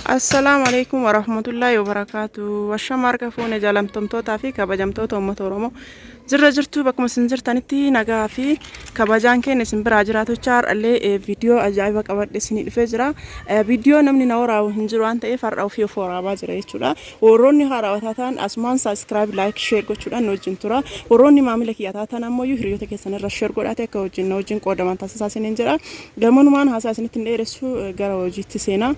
Assalaamu alaikum warahmatullaahi wabarakaatu Washama harka fuune jaalamtomtootaa fi kabajamtoota uummata Oromoo jirra jirtuu bakkuma isin jirtanitti nagaa fi kabajaan keenya isin biraa jiraatochaa har'allee eh, viidiyoo ajaa'iba qabadhe isinii dhufee jira Eh, viidiyoo namni na waraabu hin jiru waan ta'eef har'a ofii of waraabaa jira jechuudha warroonni haarawaa taataan asumaan saabskiraayib laayik sheer gochuudhaan nu wajjin tura warroonni maamila kiyya taataan ammoo hiriyoota keessan irra sheer godhaate akka wajjin na wajjin qoodaman taasisaa isiniin jedha Gamanumaan haasaa isinitti hin dheeressu gara hojiitti seenaa.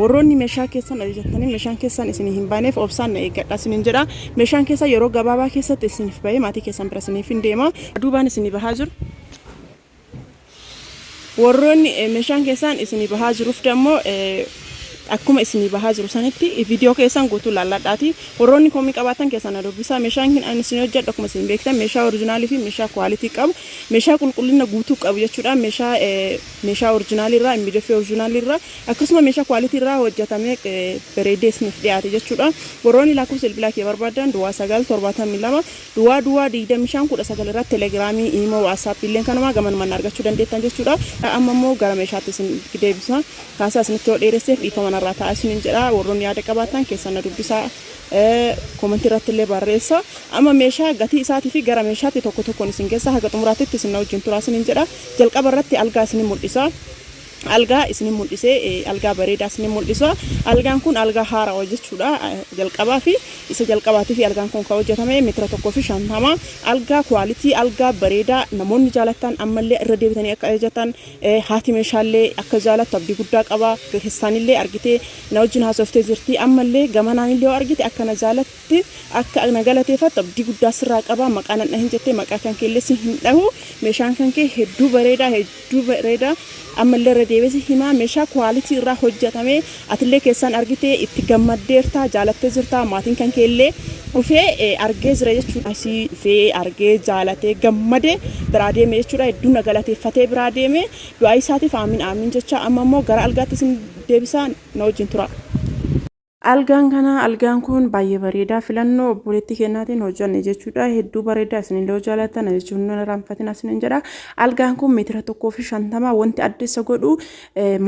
Warroonni meeshaa keessan ajajattanii meeshaan keessan isinii hin baaneef obsaan na eeggadhaa isiniin jedha. Meeshaan keessan yeroo gabaabaa keessatti isiniif bahee maatii keessan bira isiniif hin deema. Duubaan isinii bahaa jiru. Warroonni meeshaan keessan isinii bahaa jiruuf dammoo akkuma isinii bahaa jiru sanitti viidiyoo keessan guutuu laalladhaati. Warroonni komii qabaatan keessan na dubbisaa. Meeshaan isin hojjedhu akkuma isin beektan meeshaa orijinaalii fi meeshaa kwaalitii qabu Meeshaa qulqullina guutuu qabu jechuudhaan meeshaa meeshaa orjinaalii irraa immiideffee orjinaalii irraa akkasuma meeshaa kwaalitii irraa hojjetamee bareedee isiniif dhiyaate jechuudha. Warroonni lakkoofsa bilbilaa kee barbaadan duwwaa sagal torbaatamii lama duwwaa duwwaa digdamii shan kudha sagal irratti telegiraamii imoo waatsaappii illee kanumaa gamanumaan argachuu dandeettan jechuudha. Amma immoo gara meeshaatti isin deebisa. Haasaa isinitti yoo dheeresseef dhiifama narraa ta'a isiniin jedha. Warroonni yaada qabaatan keessan na dubbisaa. Comment irratti illee barreessa. Amma meeshaa gatii isaatii fi gara meeshaatti tokko tokkoon isin geessa. Haga xumuraattitti isin na wajjin turaa isinin jedha. Jalqaba irratti algaa isin mul'isa. Algaa isin mul'isee algaa bareedaa isin mul'isa. Algaan kun algaa haarawa jechuudha. Jalqabaa fi isa jalqabaatii fi algaan kun kan hojjetame meetira tokkoo fi shantama. Algaa kwaalitii algaa bareedaa namoonni jaalattan ammallee irra deebitanii akka ajajatan haati meeshaallee akka jaalattu abdii guddaa qaba. Keessaanillee argitee Na wajjin haasoftee jirti. Ammallee gamanaanillee yoo argite akka na jaalatte, akka na galateeffattu abdii guddaa sirraa qaba. Maqaa nan dhahin jettee maqaa kan keellee si hin dhahu. Meeshaan kan kee hedduu bareedaa, hedduu bareedaa. Ammallee irra deebi'ee si himaa meeshaa quality irraa hojjetame. Atillee keessaan argitee itti gammaddeerta, jaalattee jirta. Maatiin kan keellee dhufee eh, argee jira jechuudha. Asii dhufee argee jaalatee gammadee biraa deeme jechuudha. Hedduu na galateeffatee biraa deeme. Du'aayi isaatiif Aamiin Aamiin jechaa amma immoo gara algaatti isin deebisaa na wajjin turaa. Algaan kana algaan kun baay'ee bareeda filannoo obboleettii kennaatiin hojjanne jechuudha hedduu bareeda isinillee yoo jaallattan na jechuun hin irraanfatina isinin jedha algaan kun meetira tokkoo fi shantama wanti adda isa godhu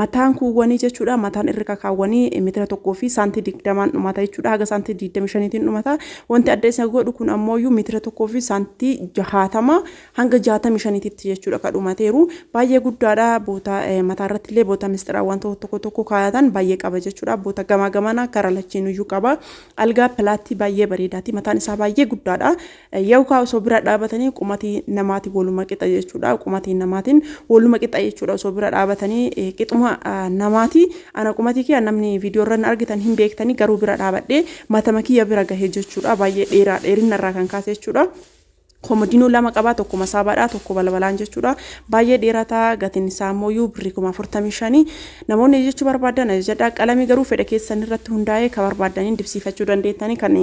mataan kuuwwanii jechuudha mataan irra kakaawwanii meetira tokkoo fi saantii digdamaan dhumata jechuudha haga saantii digdami shaniitiin dhumata wanti adda isa godhu kun ammooyyuu meetira tokkoo fi saantii jahaatama hanga 65 titti jechuudha ka dhumateeru baay'ee guddaadha boota mataa irratti illee boota misxiraawwan tokko tokko kaayatan baay'ee qaba jechuudha boota gamaa gamana kara lachiin iyyuu qaba algaa pilaattii baay'ee bareedaati mataan isaa baay'ee guddaadha yookaan osoo bira dhaabatanii qumatii namaati waluma qixa jechuudha qumatii namaatiin waluma qixa jechuudha osoo bira dhaabatanii qixuma namaati ana qumatii kiyya namni viidiyoo irra argitan hin beektanii garuu bira dhaabadhee matama kiyya bira gahee jechuudha baay'ee dheeraa dheerinna irraa kan kaase jechuudha. Komodinuu lama qaba tokko masaabaadha tokko balbalaan jechuudha baay'ee dheerata gatiin isaa immoo yuu birrii kuma afurtamii shanii namoonni ajajachuu barbaadan ajajadha qalamii garuu fedha keessan irratti hundaa'ee ka barbaadaniin dibsiifachuu dandeettanii kan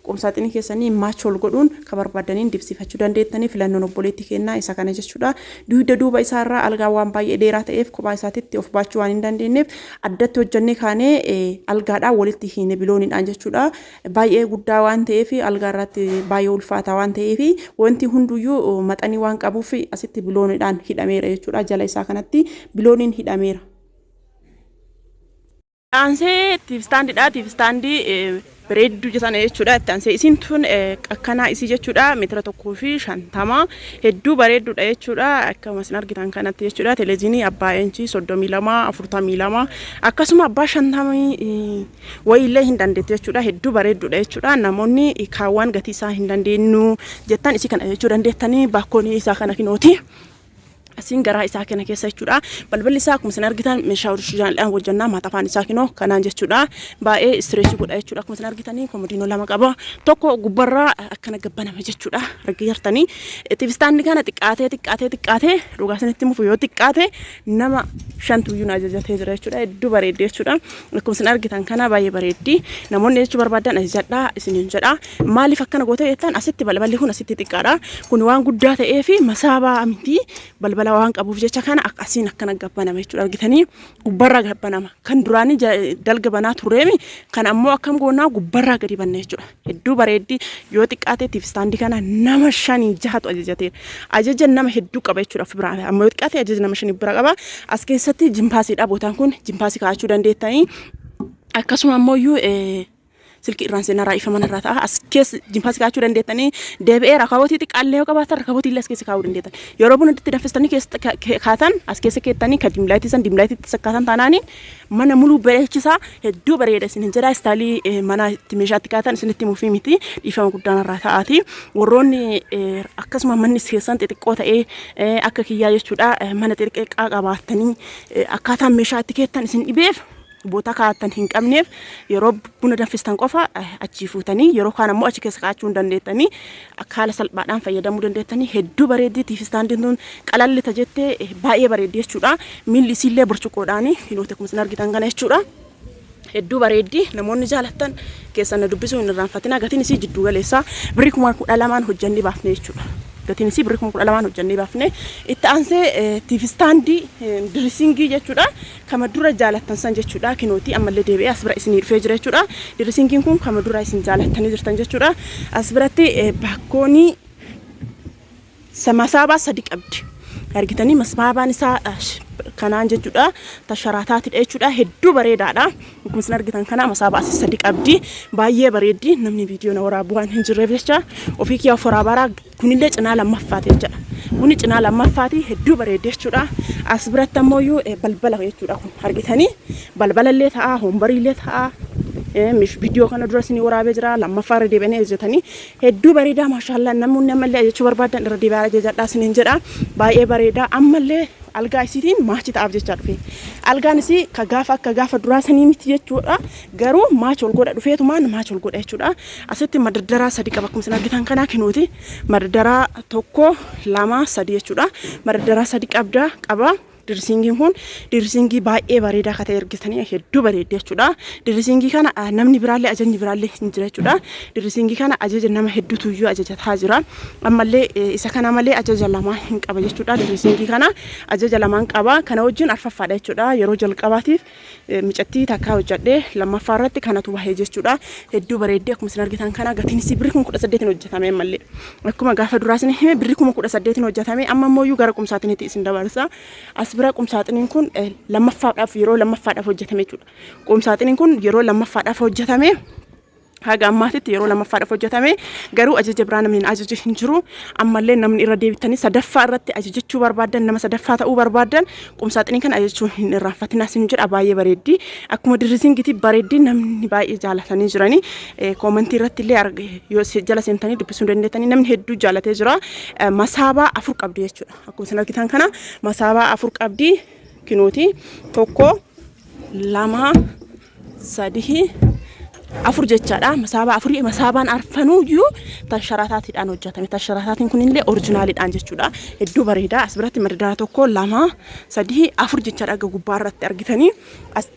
qumsaaxinii keessanii maachool godhuun ka barbaadaniin dibsiifachuu dandeettanii filannoon obboleetti kennaa isa kana jechuudha duuda duuba isaa irraa algaa waan baay'ee dheeraa ta'eef kophaa isaatitti of baachuu waan hin dandeenyeef addatti hojjannee kaanee algaadhaa walitti hiine bilooniidhaan jechuudha baay'ee guddaa waan ta'eef algaa irratti baay'ee ulfaataa waan ta'eef wanti hunduyyuu maxanii waan qabuuf asitti biloonidhaan hidhameera jechuudha. Jala isaa kanatti bilooniin hidhameera. Aansee tiif istaandidha. Tiif istaandii bareedduu jetana jechuudha. Itti aansee isiin tun akkanaa isii jechuudha. Meetira tokkoo fi shantama hedduu bareedduudha jechuudha. Akkuma isin argitan kanatti jechuudha. Teleeziinii abbaa inchii soddomii lama afurtamii lama akkasuma abbaa shantamii wayiillee hin dandeettu jechuudha. Hedduu bareedduudha jechuudha. Namoonni kaawwaan gatii isaa hin dandeenyu jettan isii kana jechuu dandeettanii baakkoon isaa kana kinooti. Asiin garaa isaa kana keessa jechuudha. Balballi isaa akkuma isin argitan meeshaa orishiinaaliidhaan hojjannaa maatafaan isaa kinoo kanaan jechuudha. Baay'ee istireesii godha jechuudha. Akkuma isin argitanii komodiinoo lama qaba. Tokko gubbarraa akkana gabbaname jechuudha. Argi jartanii. Tivistaanni kana xiqqaatee xiqqaatee xiqqaatee dhugaa isinitti mufu yoo xiqqaate nama shantu iyyuu na ajajatee jira jechuudha. Hedduu bareeddi jechuudha. Akkuma isin argitan kana baay'ee bareeddi. Namoonni jechuu barbaadan ajajadhaa isiniin jedha. Maaliif akkana goota jettan asitti balballi kun asitti xiqqaadha. Kun waan guddaa ta'ee fi masaabaa miti balbala waan qabuuf jecha kana ak- asiin akkana gabbanama jechuudha. Argitanii gubbarraa gabbanama. Kan duraanii ja- dalga banaa turreemi kan ammoo akkam goonaa gubbarraa gadi banna jechuudha. Hedduu bareeddi yoo xiqqaatee tiif istaandii kana nama shanii jahatu ajajatee ajaja nama hedduu qaba jechuudha of biraa amma yoo xiqqaatee ajaja nama shanii bira qaba as keessatti jimpaasiidha bootaan kun jimpaasii kaa'achuu dandeettanii akkasuma ammoo iyyuu silkii irraan seenaa raa'ifama manarraa ta'a as keessa jimpaasii kaa'achuu dandeettanii deebi'ee rakabootii xiqqaallee yoo qabaatan rakabootii illee as keessa kaa'uu dandeettan yeroo buna itti danfistanii keessa kaatan as keessa keettanii ka dimlaayitii san dimlaayitiitti sakkaataan taanaanii Mana muluu bareechisaa hedduu bareeda isinin jedha istaalii eh, manaa itti meeshaa itti kaatan isinitti mufii miti dhiifama guddaan irraa ta'aati warroonni eh, akkasuma manni keessan xixiqqoo ta'ee eh, akka kiyyaa jechuudha eh, mana xixiqqaa qabaattanii eh, akkaataan meeshaa itti keettan isin dhibeef boota kaa'attan hin qabneef yeroo buna danfistan qofa eh, achii fuutanii yeroo kaan ammoo achi keessa kaa'achuu hin dandeettanii Akka haala salphaadhaan fayyadamuu dandeettanii hedduu bareeddi tiif istaandiin tun qalalli ta jette baay'ee bareeddi jechuudha miilli isiillee burcuqqoodhaani kinooti akkuma isin argitan kana jechuudha hedduu bareeddi namoonni jaalattan keessan na dubbisuu hin irraanfatina gatiin isii jidduu galeessa birrii kuma kudha lamaan hojjannee baafne jechuudha gatiin isii birrii kuma kudha lamaan hojjannee baafne itti aansee tiif istaandii dirisingii jechuudha Kama dura jaalattan san jechuudha kinooti ammallee deebi'ee as bira isinii dhufee jira jechuudha. Dirisingiin kun kama dura isin jaalattanii jirtan jechuudha. As biratti baakkoonii masaabaa sadi qabdi. Argitanii masaabaan isaa kanaan jechuudha. Tasharaataatidha jechuudha. Hedduu bareedaadha. Akkuma isin argitan kana masaabaa asi sadi qabdi. Baay'ee bareeddi. Namni viidiyoo na waraabu waan hin jirreef jecha ofii kiyyaa of waraabaraa Kunillee cinaa lammaffaati jechuudha. Buni cinaa lammaffaati hedduu bareeddi jechuudha. As biratti ammoo iyyuu eh, balbala jechuudha kun argitanii balbala illee ta'a hoombarii illee ta'a. Eh, mish- Viidiyoo kana dura isinii waraabee jira lammaffaa irra deebi'anii ajajatanii hedduu bareedaa maashaallaa namoonni ammallee ajajachuu barbaadan irra deebi'aa ajajadhaa isiniin jedha baay'ee bareedaa ammallee algaa isiitiin maachi ta'aaf jechaa dhufe algaan isii ka gaafa akka gaafa duraa sanii miti jechuudha Garuu match ol godha dhufeetumaan match ol godha jechuudha. Asitti madaddaraa sadi qaba akkuma isin argitan kanaa kinuuti. Madaddaraa tokko lama sadi jechuudha. Madaddaraa sadi qabda qaba. Dirisiingiin kun dirisiingii baay'ee bareedaa akka ta'e argitanii hedduu bareeddi jechuudha. Dirisiingii kana ah, namni biraallee ajajni biraallee hin jira jechuudha. Dirisiingii kana ajaja nama hedduutu iyyuu ajajataa jira. Ammallee eh, isa kana malee ajaja lamaa hin qaba jechuudha. Dirisiingii kana ajaja lamaan qaba. Kana wajjin arfaffaadha jechuudha. Yeroo jalqabaatiif Micattii takkaa hojjadhe lammaffaa irratti kanatu bahe jechuudha. Hedduu bareeddii akkuma isin argitan kana gatiin isii birri kuma kudha saddeetiin hojjetame ammallee. Akkuma gaafa duraa isin hime birri kuma kudha saddeetiin hojjetame amma immoo iyyuu gara qumsaaxiniitti isin dabarsa. As bira qumsaaxiniin kun eh, lammaffaadhaaf yeroo lammaffaadhaaf hojjetame jechuudha. Qumsaaxiniin kun yeroo lammaffaadhaaf hojjetame haga ammaatitti yeroo lammaffaadhaaf hojjetame garuu ajaja biraa namni hin ajaje hin jiru ammallee namni irra deebitanii sadaffaa irratti ajajachuu barbaadan nama sadaffaa ta'uu barbaadan qumsaaxinii kan ajajachuu hin irraanfatinaa sin jedha baay'ee bareeddii akkuma dirrizingitii bareeddii namni baay'ee jaalatanii jiranii koomantii irratti illee arge yoo se- jala seentanii dubbisuu hin dandeettanii namni hedduu jaalatee jira Eh, masaabaa afur qabdi jechuudha akkuma isin argitan kana masaabaa afur qabdi kinooti tokko lama sadii, afur jechaadha. Masaabaa afurii masaabaan arfanuuyyuu tansharaataatiidhaan hojjetame. Tansharaataatiin kunillee orijinaaliidhaan jechuudha. Hedduu bareeda. As biratti madadana tokko, lama, sadii, afur jechaadha. Aga gubbaa irratti argitanii as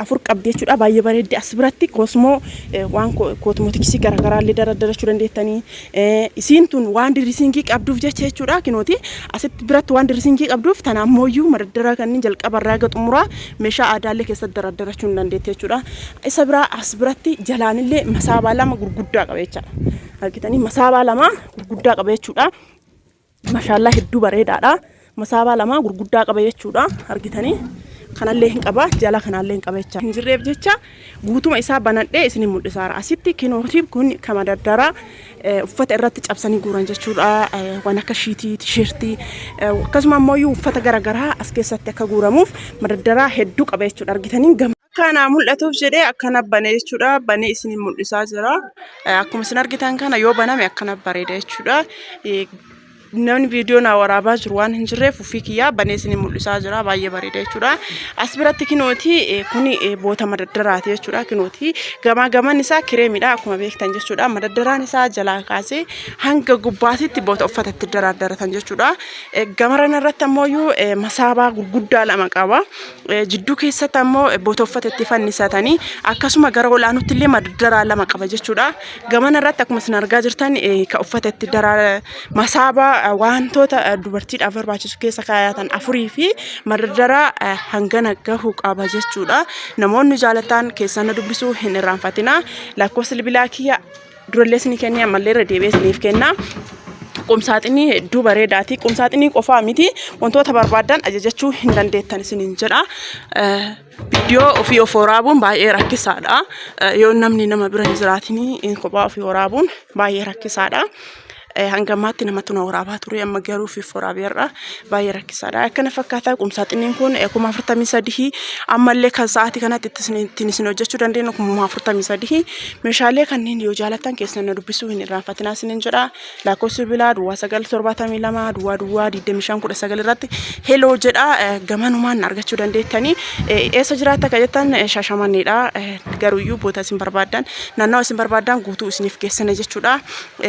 afur qabdi jechuudha. Baay'ee bareeddi. As biratti koosmoo waan koosmootiksii garaagaraa illee dardarachuu dandeettanii. Isiin tun waan dirisiingii qabduuf jecha jechuudha. Kinooti asitti biratti waan dirisiingii qabduuf tana ammooyyuu madaddara kanneen jalqaba irraa eega xumuraa meeshaa aadaallee keessatti daraddarachuu ni dandeetti jechuudha. Isa biraa as biratti jalaanillee masaabaa lama gurguddaa qaba jechaadha. Argitanii masaabaa lama gurguddaa qaba jechuudha. Mashaallaa hedduu bareedaadha. Masaabaa lamaa gurguddaa qaba jechuudha. Argitanii kanallee hin qaba jala kanaallee hin qaba jecha hin jirreef jecha guutuma isaa banadhee isin mul'isaara. Asitti kinooti kun kama daddara uffata irratti cabsanii guuran jechuudha. Waan akka shiitii, tisheertii akkasuma ammoo uffata garaagaraa as keessatti akka guuramuuf madaddaraa hedduu qaba jechuudha. Argitanii gama. Akka anaa mul'atuuf jedhee akkana bane jechuudha. Banee isin mul'isaa jira. Akkuma isin argitan kana yoo baname akkana bareeda jechuudha. Namni viidiyoo naa waraabaa jiru waan hin jirreef ofii kiyyaa banee isin mul'isaa jira. Baay'ee bareeda jechuudha. As biratti kinooti kuni boota madaddaraati jechuudha. Kinooti gamaa gaman isaa kireemidha akkuma beektan jechuudha. Madaddaraan isaa jalaa kaasee hanga gubbaatitti boota uffata itti daraaddaratan jechuudha. Gamaran irratti ammoo masaabaa gurguddaa lama qaba. Jidduu keessatti ammoo botoffata itti fannisatanii akkasuma gara ol aanutti illee maddaraa lama qaba jechuudha. Gamana irratti akkuma isin argaa jirtan kan uffata itti daraa masaaba wantoota dubartiidhaaf barbaachisu keessa kaayatan afurii fi maddaraa hangana gahu qaba jechuudha. Namoonni jaalatan keessan dubbisuu hin irraanfatina. Lakkoofsa bilbilaa kiyya durallees ni kennee ammallee irra deebi'ee isiniif kenna. Qumsaaxinii hedduu bareedaati. Qumsaaxinii qofaa miti wantoota barbaadan ajajachuu hin dandeettan isiniin jedha. Viidiyoo ofii of waraabuun baay'ee rakkisaadha. Yoo namni nama bira hin jiraatinii kophaa ofii waraabuun baay'ee rakkisaadha. hanga ammaatti namatu na waraabaa ture amma garuu fi waraabeerra baay'ee rakkisaadha. Akkana fakkaataa qumsaaxinniin kun kuma afurtamii sadihii ammallee kan sa'aatii kanatti ittiin isin hojjechuu dandeenyu kuma afurtamii sadihii meeshaalee kanneen yoo jaalatan keessan na dubbisuu hin irraanfatinaa isinin jedha lakkoofsi bilaa duwwaa sagal torbaatamii lama duwwaa duwwaa digdamii shan kudha sagal irratti heloo jedha gamanumaan argachuu dandeettanii eessa jiraata kan jettan shaashamanneedha garuuyyuu boota isin barbaadan naannawa isin barbaadan guutuu isiniif geessina jechuudha.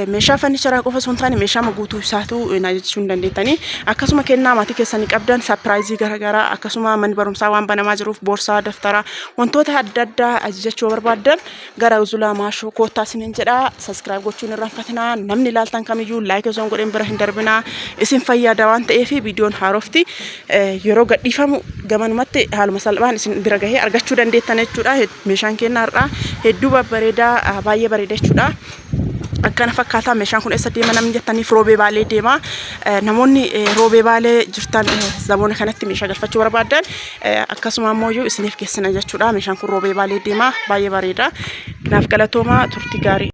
Meeshaa fannicharaa qofa osoo hin taane meeshaa guutuu isaatu na jechuu ni dandeettanii. Akkasuma kennaa maatii keessanii qabdan sapiraayizii garaagaraa akkasuma manni barumsaa waan banamaa jiruuf boorsaa daftaraa wantoota adda addaa ajajachuu barbaaddan gara Zulaa Maashoo koottaa isiniin jedha. Saskiraayib gochuu hin irraanfatinaa. Namni ilaaltan kamiyyuu laayik osoo hin godhin bira hin darbinaa. Isin fayyada waan ta'eef viidiyoon haarofti yeroo gadhiifamu gamanumatti haaluma salphaan isin bira gahee argachuu dandeettan jechuudha. Meeshaan keenya har'aa hedduu babbareedaa baay'ee bareeda jechuudha. akkana fakkaataa meeshaan kun eessa deema namni jettaniif roobee baalee deema namoonni roobee baalee jirtan zamoona kanatti meeshaa galfachuu barbaadan akkasuma ammoo iyyuu isiniif geessina jechuudha meeshaan kun roobee baalee deema baay'ee bareeda naaf galatoomaa turtii gaarii